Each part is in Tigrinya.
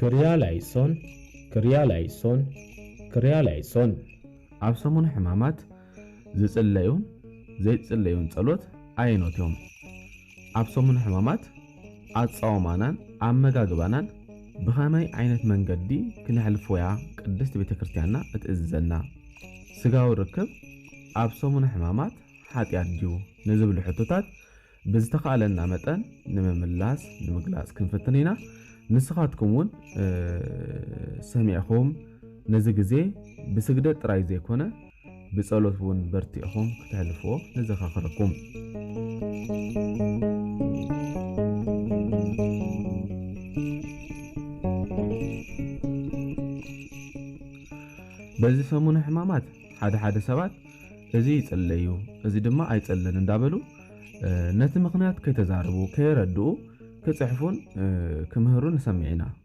ክርያላይሶን ክርያላይሶን ክርያላይሶን ኣብ ሰሙነ ሕማማት ዝጽለዩን ዘይጽለዩን ጸሎት ኣየኖት እዮም? ኣብ ሰሙን ሕማማት ኣጻዋማናን ኣመጋግባናን ብኸመይ ዓይነት መንገዲ ክነሕልፎ'ያ ቅድስት ቤተ ክርስቲያንና እትእዝዘና? ሥጋዊ ርክብ ኣብ ሰሙን ሕማማት ኃጢኣት ድዩ? ንዝብሉ ሕቶታት ብዝተኻእለና መጠን ንምምላስ ንምግላጽ ክንፍትን ኢና። ንስኻትኩም እውን ሰሚዕኹም ነዚ ግዜ ብስግደት ጥራይ ዘይኮነ ብጸሎት ውን በርቲዕኹም ክተሕልፍዎ ነዘኻኽረኩም። በዚ ሰሙነ ሕማማት ሓደ ሓደ ሰባት እዚ ይጽለዩ እዚ ድማ ኣይጽልን እንዳበሉ ነቲ ምኽንያት ከይተዛረቡ ከየረድኡ ክጽሕፉን ክምህሩን ንሰምዕ ኢና።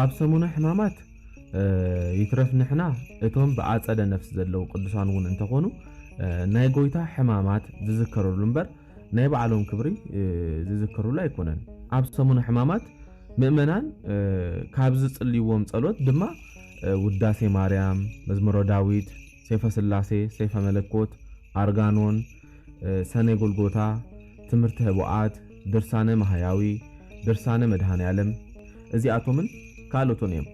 ኣብ ሰሙነ ሕማማት ይትረፍ ንሕና እቶም ብኣጸደ ነፍስ ዘለዉ ቅዱሳን እውን እንተኾኑ ናይ ጎይታ ሕማማት ዝዝከርሉ እምበር ናይ ባዕሎም ክብሪ ዝዝከርሉ ኣይኮነን። ኣብ ሰሙነ ሕማማት ምእመናን ካብ ዝጽልይዎም ጸሎት ድማ ውዳሴ ማርያም፣ መዝሙረ ዳዊት፣ ሰይፈ ስላሴ፣ ሰይፈ መለኮት፣ ኣርጋኖን፣ ሰነ ጎልጎታ፣ ትምህርተ ኅቡኣት፣ ድርሳነ ማኃያዊ፣ ድርሳነ መድኃኔዓለም፣ እዚኣቶምን ካልኦቶን እዮም።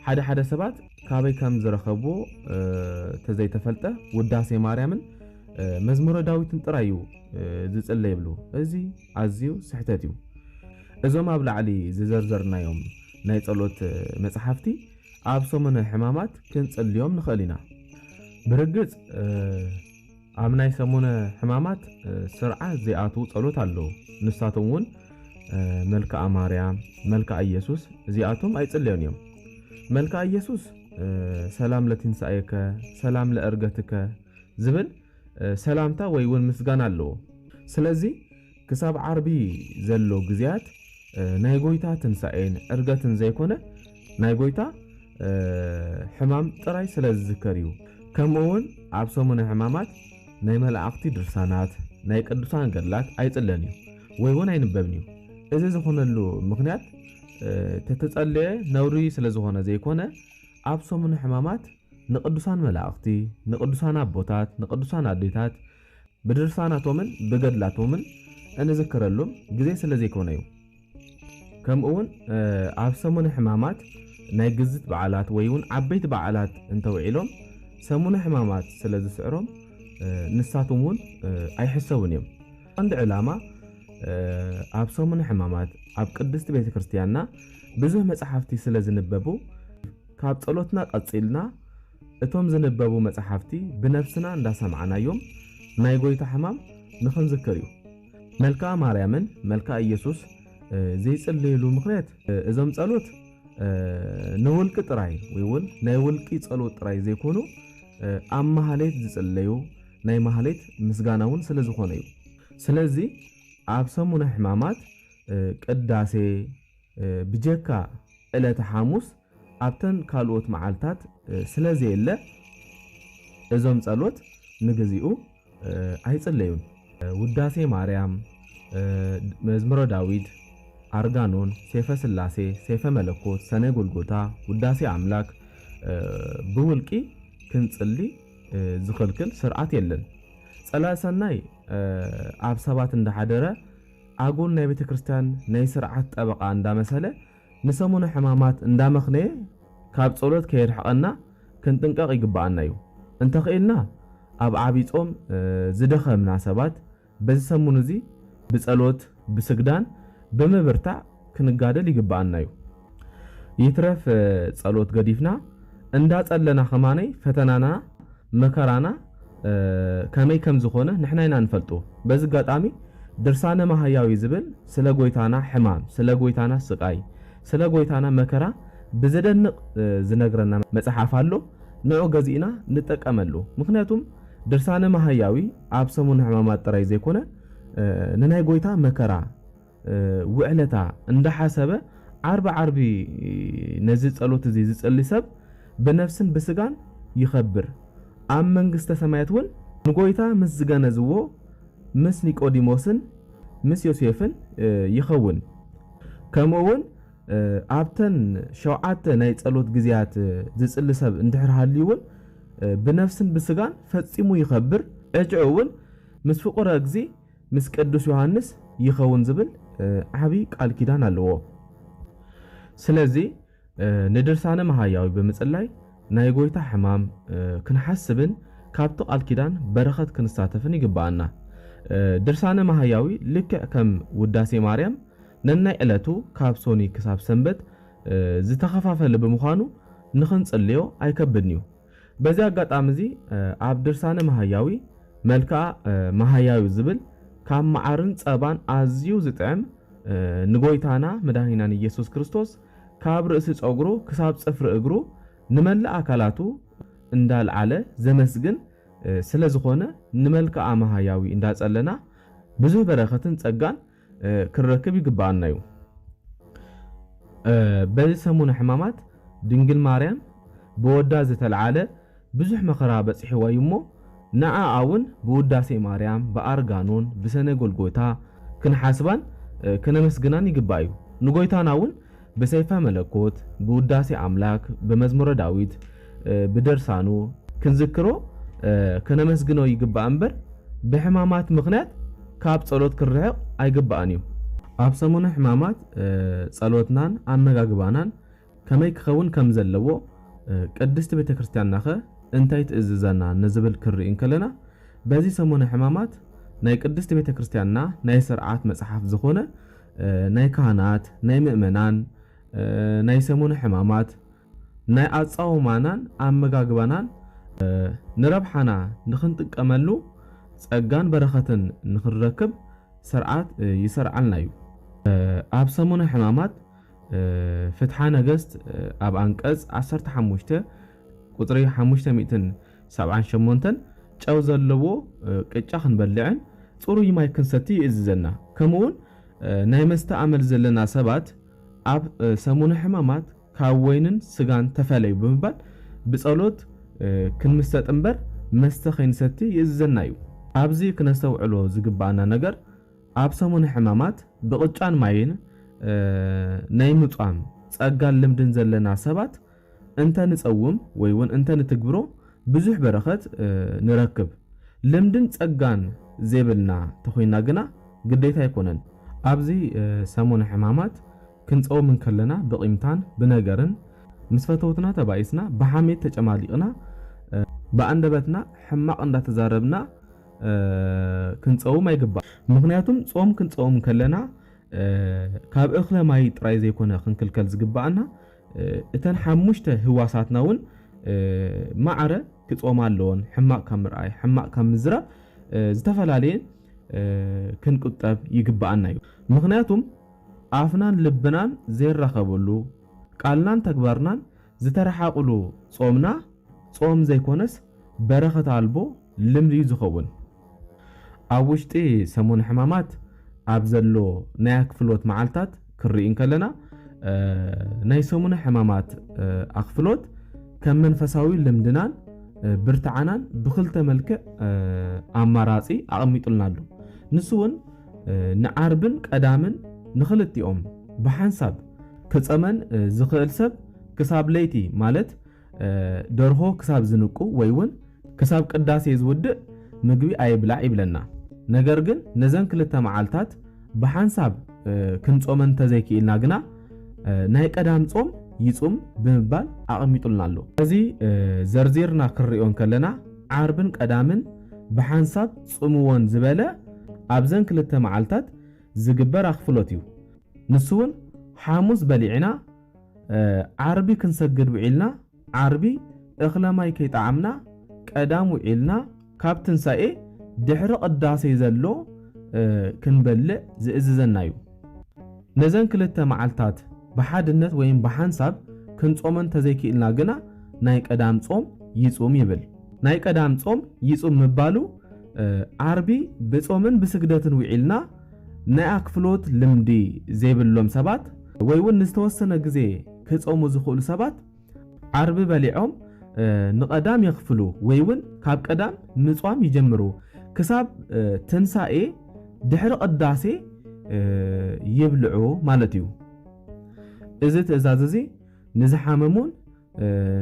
ሓደ ሓደ ሰባት ካበይ ከም ዝረኸብዎ ተዘይተፈልጠ ውዳሴ ማርያምን መዝሙረ ዳዊትን ጥራይ እዩ ዝጽለ ይብሉ። እዚ ኣዝዩ ስሕተት እዩ። እዞም ኣብ ላዕሊ ዝዘርዘርናዮም ናይ ጸሎት መጽሓፍቲ ኣብ ሰሙነ ሕማማት ክንጽልዮም ንኽእል ኢና። ብርግጽ፣ ኣብ ናይ ሰሙነ ሕማማት ስርዓት ዘይኣትዉ ጸሎት ኣለዉ። ንሳቶም እውን መልክኣ ማርያም፣ መልክኣ ኢየሱስ እዚኣቶም ኣይጽለዮን እዮም። መልክኣ ኢየሱስ ሰላም ለትንሣኤከ ሰላም ለእርገትከ ዝብል ሰላምታ ወይ እውን ምስጋና ኣለዎ። ስለዚ ክሳብ ዓርቢ ዘሎ ግዜያት ናይ ጎይታ ትንሣኤን ዕርገትን ዘይኮነ ናይ ጎይታ ሕማም ጥራይ ስለ ዝዝከር እዩ። ከምኡውን ኣብ ሰሙነ ሕማማት ናይ መላእኽቲ ድርሳናት፣ ናይ ቅዱሳን ገድላት ኣይጽለን እዩ ወይ ውን ኣይንበብን እዩ። እዚ ዝኾነሉ ምኽንያት ተተጸለየ ነውሪ ስለ ዝኾነ ዘይኮነ ኣብ ሰሙነ ሕማማት ንቅዱሳን መላእኽቲ፣ ንቅዱሳን ኣቦታት፣ ንቅዱሳን ኣዴታት፣ ብድርሳናቶምን ብገድላቶምን እንዝክረሉም ግዜ ስለ ዘይኮነዩ። ከምኡውን ኣብ ሰሙነ ሕማማት ናይ ግዝት በዓላት ወይውን ዓበይቲ በዓላት እንተውዒሎም ሰሙነ ሕማማት ስለ ዝስዕሮም ንሳቶምውን ኣይሕሰቡን እዮም። ቀንዲ ዕላማ ኣብ ሰሙነ ሕማማት ኣብ ቅድስቲ ቤተ ክርስቲያንና ብዙህ መጽሓፍቲ ስለ ዝንበቡ ካብ ጸሎትና ቀጺልና እቶም ዝንበቡ መጻሕፍቲ ብነፍስና እንዳሰማዕናዮም ናይ ጎይታ ሕማም ንኽንዝክር እዩ። መልክኣ ማርያምን መልክኣ ኢየሱስ ዘይጽልይሉ ምኽንያት እዞም ጸሎት ንውልቂ ጥራይ ወይ ውን ናይ ውልቂ ጸሎት ጥራይ ዘይኮኑ ኣብ ማህሌት ዝጽለዩ ናይ ማህሌት ምስጋና ውን ስለ ዝኾነ እዩ። ስለዚ ኣብ ሰሙነ ሕማማት ቅዳሴ ብጀካ ዕለተ ሓሙስ ኣብተን ካልኦት መዓልታት ስለ ዘየለ፣ እዞም ጸሎት ንግዚኡ ኣይጽለዩን። ውዳሴ ማርያም፣ መዝሙረ ዳዊት፣ ኣርጋኖን፣ ሴፈ ስላሴ፣ ሴፈ መለኮት፣ ሰኔ ጎልጎታ፣ ውዳሴ ኣምላክ ብውልቂ ክንጽሊ ዝኽልክል ስርዓት የለን። ጸላኢ ሰናይ ኣብ ሰባት እንዳሓደረ ኣጉል ናይ ቤተክርስትያን ናይ ስርዓት ጠበቃ እንዳመሰለ ንሰሙነ ሕማማት እንዳመኽነየ ካብ ጸሎት ከየርሕቐና ክንጥንቀቕ ይግብኣና እዩ። እንተኽኢልና ኣብ ዓቢይ ጾም ዝደኸምና ሰባት በዚ ሰሙን እዚ ብጸሎት ብስግዳን ብምብርታዕ ክንጋደል ይግብኣና እዩ። ይትረፍ ጸሎት ገዲፍና እንዳጸለና ከማነይ ፈተናና መከራና ከመይ ከም ዝኾነ ንሕና ኢና ንፈልጦ። በዚ ኣጋጣሚ ድርሳነ መሃያዊ ዝብል ስለ ጎይታና ሕማም፣ ስለ ጎይታና ስቃይ፣ ስለ ጎይታና መከራ ብዘደንቅ ዝነግረና መጽሓፍ ኣሎ። ንዑ ገዚእና ንጠቀመሉ። ምኽንያቱም ድርሳነ መሃያዊ ኣብ ሰሙነ ሕማማት ጥራይ ዘይኮነ ንናይ ጎይታ መከራ፣ ውዕለታ እንዳሓሰበ ዓርቢ ዓርቢ ነዚ ጸሎት እዚ ዝጽሊ ሰብ ብነፍስን ብስጋን ይኸብር ኣብ መንግስተ ሰማያት ውን ንጎይታ ምስ ዝገነዝዎ ምስ ኒቆዲሞስን ምስ ዮሴፍን ይኸውን ከምኡ ውን ኣብተን ሸውዓተ ናይ ጸሎት ግዜያት ዝጽሊ ሰብ እንድሕር ሃልዩ ውን ብነፍስን ብስጋን ፈጺሙ ይኸብር ዕጭኡ ውን ምስ ፍቁረ እግዚእ ምስ ቅዱስ ዮሃንስ ይኸውን ዝብል ዓቢ ቃል ኪዳን ኣለዎ። ስለዚ ንድርሳነ መሃያዊ ብምጽላይ ናይ ጎይታ ሕማም ክንሓስብን ካብቲ ቃል ኪዳን በረኸት ክንሳተፍን ይግብኣና። ድርሳነ መሃያዊ ልክዕ ከም ውዳሴ ማርያም ነናይ ዕለቱ ካብ ሶኑይ ክሳብ ሰንበት ዝተኸፋፈለ ብምዃኑ ንኽንጽልዮ ኣይከብድን'ዩ። በዚ ኣጋጣሚ'ዚ ኣብ ድርሳነ መሃያዊ፣ መልክኣ መሃያዩ ዝብል ካብ መዓርን ጸባን ኣዝዩ ዝጥዕም ንጎይታና መድኃኒናን ኢየሱስ ክርስቶስ ካብ ርእሲ ጸጉሩ ክሳብ ጽፍሪ እግሩ ንመላእ ኣካላቱ እንዳልዓለ ዘመስግን ስለዝኾነ ንመልክኣ መሃያዊ እንዳጸለና ብዙህ በረከትን ጸጋን ክንረክብ ይግብኣና እዩ። በዚ ሰሙነ ሕማማት ድንግል ማርያም ብወዳ ዝተልዓለ ብዙሕ መከራ በጺሕዋ እዩ እሞ ንኣ ኣውን ብውዳሴ ማርያም ብኣርጋኖን ብሰነ ጎልጎታ ክንሓስባን ከነመስግናን ይግባእ እዩ። ንጎይታና እውን ብሰይፈ መለኮት፣ ብውዳሴ ኣምላክ፣ ብመዝሙረ ዳዊት፣ ብድርሳኑ ክንዝክሮ ከነመስግኖ ይግባእ እምበር ብሕማማት ምክንያት ካብ ጸሎት ክንርሕቅ ኣይግባእን እዩ። ኣብ ሰሙነ ሕማማት ጸሎትናን ኣመጋግባናን ከመይ ክከውን ከም ዘለዎ ቅድስቲ ቤተክርስትያንናከ እንታይ ትእዝዘና ንዝብል ክንርኢ እንከለና በዚ ሰሙነ ሕማማት ናይ ቅድስቲ ቤተክርስትያንና ናይ ስርዓት መጽሓፍ ዝኮነ ናይ ካህናት፣ ናይ ምእመናን፣ ናይ ሰሙነ ሕማማት፣ ናይ ኣጻውማናን ኣመጋግባናን፣ ንረብሓና ንኽንጥቀመሉ ጸጋን በረኸትን ንኽንረክብ ሰርዓት ይሰርዓልና እዩ። ኣብ ሰሙነ ሕማማት ፍትሓ ነገስት ኣብ ኣንቀጽ ዓሰርተ ሓሙሽተ ቁጽሪ ሓሙሽተ ሚእትን ሰብዓን ሸሞንተን ጨው ዘለዎ ቅጫ ክንበልዕን ጽሩይ ማይ ክንሰቲ ይእዝዘና። ከምኡውን ናይ መስተ ኣመል ዘለና ሰባት ኣብ ሰሙነ ሕማማት ካብ ወይንን ስጋን ተፈለዩ ብምባል ብጸሎት ክንምሰጥ እምበር መስተ ከይንሰቲ ይእዝዘና እዩ። ኣብዚ ክነስተውዕሎ ዝግብኣና ነገር ኣብ ሰሙነ ሕማማት ብቅጫን ማይን ናይ ምጿም ጸጋን ልምድን ዘለና ሰባት እንተ ንጸውም ወይ ውን እንተ ንትግብሮ ብዙሕ በረኸት ንረክብ። ልምድን ጸጋን ዘይብልና ተኾይንና ግና ግዴታ ኣይኮነን። ኣብዚ ሰሙነ ሕማማት ክንጸውም እንከለና ብቂምታን ብነገርን ምስ ፈተውትና ተባኢስና ብሓሜት ተጨማሊቅና ብኣንደበትና ሕማቅ እንዳተዛረብና ክንጸውም ኣይግባእን። ምኽንያቱም ጾም ክንጸውም ከለና ካብ እኽለ ማይ ጥራይ ዘይኮነ ክንክልከል ዝግባእና እተን ሓሙሽተ ህዋሳትና እውን ማዕረ ክጾማ ኣለዎን። ሕማቕ ካብ ምርኣይ፣ ሕማቕ ካብ ምዝራብ ዝተፈላለየ ክንቁጠብ ይግብኣና እዩ። ምኽንያቱም ኣፍናን ልብናን ዘይራኸበሉ፣ ቃልናን ተግባርናን ዝተረሓቕሉ ጾምና ጾም ዘይኮነስ በረኸት ኣልቦ ልምዲ እዩ ዝኸውን። ኣብ ውሽጢ ሰሙን ሕማማት ኣብ ዘሎ ናይ ኣክፍሎት መዓልታት ክንርኢ እንከለና ናይ ሰሙነ ሕማማት ኣክፍሎት ከም መንፈሳዊ ልምድናን ብርትዓናን ብክልተ መልክዕ ኣማራፂ ኣቐሚጡልና ኣሎ። ንሱ እውን ንዓርብን ቀዳምን ንክልቲኦም ብሓንሳብ ክፀመን ዝኽእል ሰብ ክሳብ ለይቲ ማለት ደርሆ ክሳብ ዝንቁ ወይ ውን ክሳብ ቅዳሴ ዝውድእ ምግቢ ኣይብላዕ ይብለና። ነገር ግን ነዘን ክልተ መዓልታት ብሓንሳብ ክንጾመን እንተዘይክኢልና ግና ናይ ቀዳም ጾም ይጹም ብምባል ኣቐሚጡልና ኣሎ። ነዚ ዘርዚርና ክንሪኦ እንከለና ዓርብን ቀዳምን ብሓንሳብ ጽምዎን ዝበለ ኣብዘን ክልተ መዓልታት ዝግበር ኣኽፍሎት እዩ። ንሱ ውን ሓሙስ በሊዕና፣ ዓርቢ ክንሰግድ ውዒልና ዓርቢ እኽለ ማይ ከይጠዓምና ቀዳም ውዒልና ካብ ትንሳኤ ድሕሪ ቅዳሴ ዘሎ ክንበልዕ ዝእዝዘና እዩ። ነዘን ክልተ መዓልታት ብሓድነት ወይም ብሓንሳብ ክንጾመን ተዘይኪእልና ግና ናይ ቀዳም ጾም ይጹም ይብል። ናይ ቀዳም ጾም ይጹም ምባሉ ዓርቢ ብጾምን ብስግደትን ውዒልና፣ ናይ ኣክፍሎት ልምዲ ዘይብሎም ሰባት ወይ ውን ንዝተወሰነ ግዜ ክጸሙ ዝኽእሉ ሰባት ዓርቢ በሊዖም ንቀዳም የክፍሉ ወይ ውን ካብ ቀዳም ምጽዋም ይጀምሩ ክሳብ ትንሳኤ ድሕሪ ቅዳሴ ይብልዑ ማለት እዩ። እዚ ትእዛዝ እዚ ንዝሓመሙን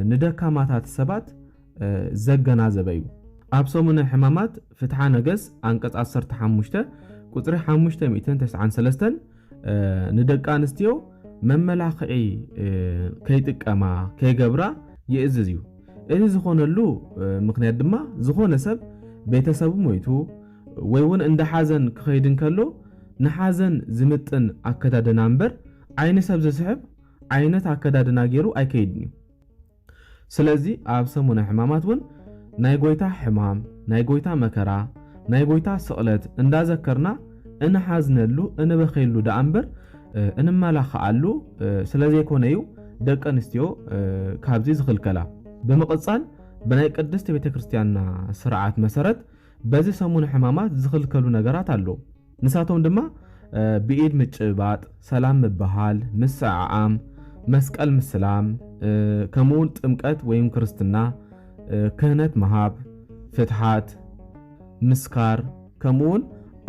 ንደካማታት ሰባት ዘገናዘበ እዩ። ኣብ ሰሙነ ሕማማት ፍትሓ ነገስ ኣንቀጽ ዓሰርተ ሓሙሽተ ቁጽሪ ሓሙሽተ ሚእትን ተስዓን ሰለስተን ንደቂ ኣንስትዮ መመላኽዒ ከይጥቀማ ከይገብራ ይእዝዝ እዩ። እዚ ዝኾነሉ ምኽንያት ድማ ዝኾነ ሰብ ቤተሰቡ ሞይቱ ወይ እውን እንዳ ሓዘን ክኸይድ እንከሎ ንሓዘን ዝምጥን ኣከዳድና እምበር ዓይኒ ሰብ ዝስሕብ ዓይነት ኣከዳድና ገይሩ ኣይከይድን እዩ። ስለዚ ኣብ ሰሙነ ሕማማት እውን ናይ ጐይታ ሕማም፣ ናይ ጐይታ መከራ፣ ናይ ጐይታ ስቕለት እንዳዘከርና እንሓዝነሉ እንበኽየሉ ደኣ እምበር እንመላኸዓሉ ስለዘይኮነ እዩ ደቂ ኣንስትዮ ካብዚ ዝኽልከላ። ብምቕጻል ብናይ ቅድስት ቤተ ክርስቲያንና ስርዓት መሰረት በዚ ሰሙነ ሕማማት ዝኽልከሉ ነገራት ኣለዉ። ንሳቶም ድማ ብኢድ ምጭብባጥ፣ ሰላም ምብሃል፣ ምስዕዓም፣ መስቀል ምስላም፣ ከምኡውን ጥምቀት ወይም ክርስትና፣ ክህነት ምሃብ፣ ፍትሓት፣ ምስካር፣ ከምኡውን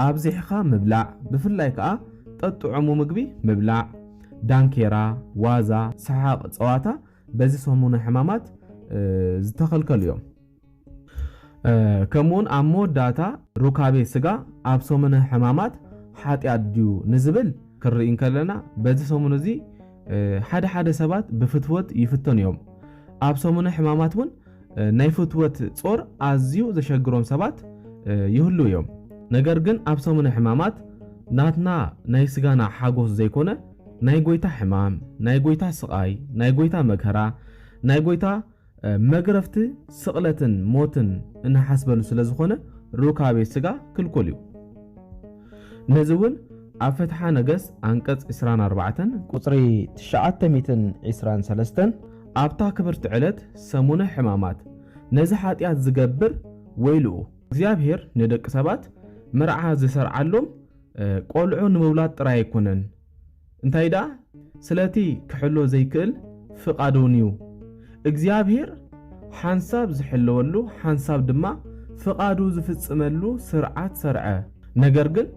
ኣብዚሕኻ ምብላዕ፣ ብፍላይ ከኣ ጠጥዑሙ ምግቢ ምብላዕ፣ ዳንኬራ፣ ዋዛ፣ ሰሓቕ፣ ጸዋታ በዚ ሰሙነ ሕማማት ዝተኸልከሉ እዮም። ከምኡውን ኣብ መወዳእታ ሩካቤ ስጋ ኣብ ሰሙነ ሕማማት ሓጢኣት ድዩ ንዝብል ክንርኢ እንከለና በዚ ሰሙን እዚ ሓደ ሓደ ሰባት ብፍትወት ይፍተኑ እዮም። ኣብ ሰሙነ ሕማማት እውን ናይ ፍትወት ጾር ኣዝዩ ዘሸግሮም ሰባት ይህሉ እዮም። ነገር ግን ኣብ ሰሙነ ሕማማት ናትና ናይ ስጋና ሓጎስ ዘይኮነ ናይ ጎይታ ሕማም፣ ናይ ጎይታ ስቓይ፣ ናይ ጎይታ መከራ፣ ናይ ጎይታ መግረፍቲ ስቕለትን ሞትን እንሓስበሉ ስለ ዝኾነ ሩካቤ ስጋ ክልኩል እዩ። ነዚ እውን ኣብ ፍትሓ ነገስ ኣንቀጽ ዕስራን ኣርባዕተን ቁጽሪ ትሽዓተ ሚእትን ዕስራን ሰለስተን ኣብታ ክብርቲ ዕለት ሰሙነ ሕማማት ነዚ ሓጢኣት ዝገብር ወይልኡ፣ እግዚኣብሔር ንደቂ ሰባት መርዓ ዝሰርዓሎም ቆልዑ ንምውላድ ጥራይ ኣይኮነን፣ እንታይ ደኣ ስለቲ ክሕሎ ዘይክእል ፍቃዱንዩ እግዚኣብሄር ሓንሳብ ዝሕልወሉ ሓንሳብ ድማ ፍቃዱ ዝፍጽመሉ ስርዓት ሰርዐ ነገር ግን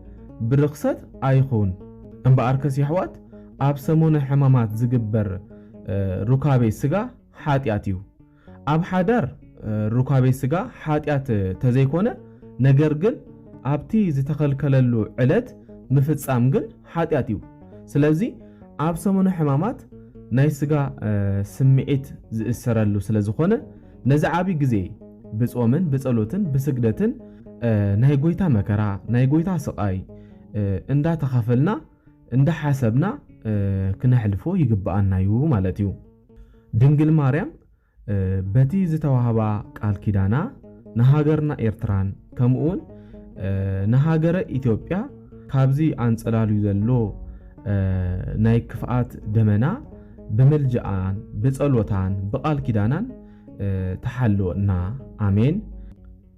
ብርኽሰት ኣይኹን እምበኣርከስ የሕዋት ኣብ ሰሙነ ሕማማት ዝግበር ሩካቤ ስጋ ሓጢኣትዩ ኣብ ሓዳር ሩካቤ ስጋ ሓጢኣት ተዘይኮነ ነገር ግን ኣብቲ ዝተከልከለሉ ዕለት ምፍጻም ግን ሓጢኣት እዩ ስለዚ ኣብ ሰሙነ ሕማማት ናይ ስጋ ስምዒት ዝእሰረሉ ስለ ዝኮነ ነዚ ዓቢ ግዜ ብጾምን ብጸሎትን ብስግደትን ናይ ጎይታ መከራ ናይ ጎይታ ስቃይ እንዳ ተካፈልና እንዳ ሓሰብና ክነሕልፎ ይግብኣና እዩ ማለት እዩ። ድንግል ማርያም በቲ ዝተዋህባ ቃል ኪዳና ንሃገርና ኤርትራን ከምኡውን ንሃገረ ኢትዮጵያ ካብዚ ኣንጸላልዩ ዘሎ ናይ ክፍኣት ደመና ብምልጃኣን ብጸሎታን ብቃል ኪዳናን ትሓልወና ኣሜን።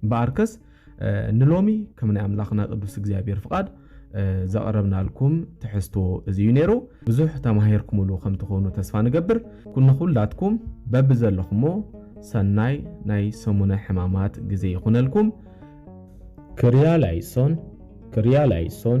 እምበኣርከስ ንሎሚ ከም ናይ ኣምላኽና ቅዱስ እግዚኣብሔር ፍቓድ ዘቕረብናልኩም ትሕዝቶ እዚ እዩ ነይሩ። ብዙሕ ተማሂርኩምሉ ከም ትኾኑ ተስፋ ንገብር። ንኹላትኩም በብዘለኹሞ ሰናይ ናይ ሰሙነ ሕማማት ግዜ ይኹነልኩም። ክርያላይሶን ክርያላይሶን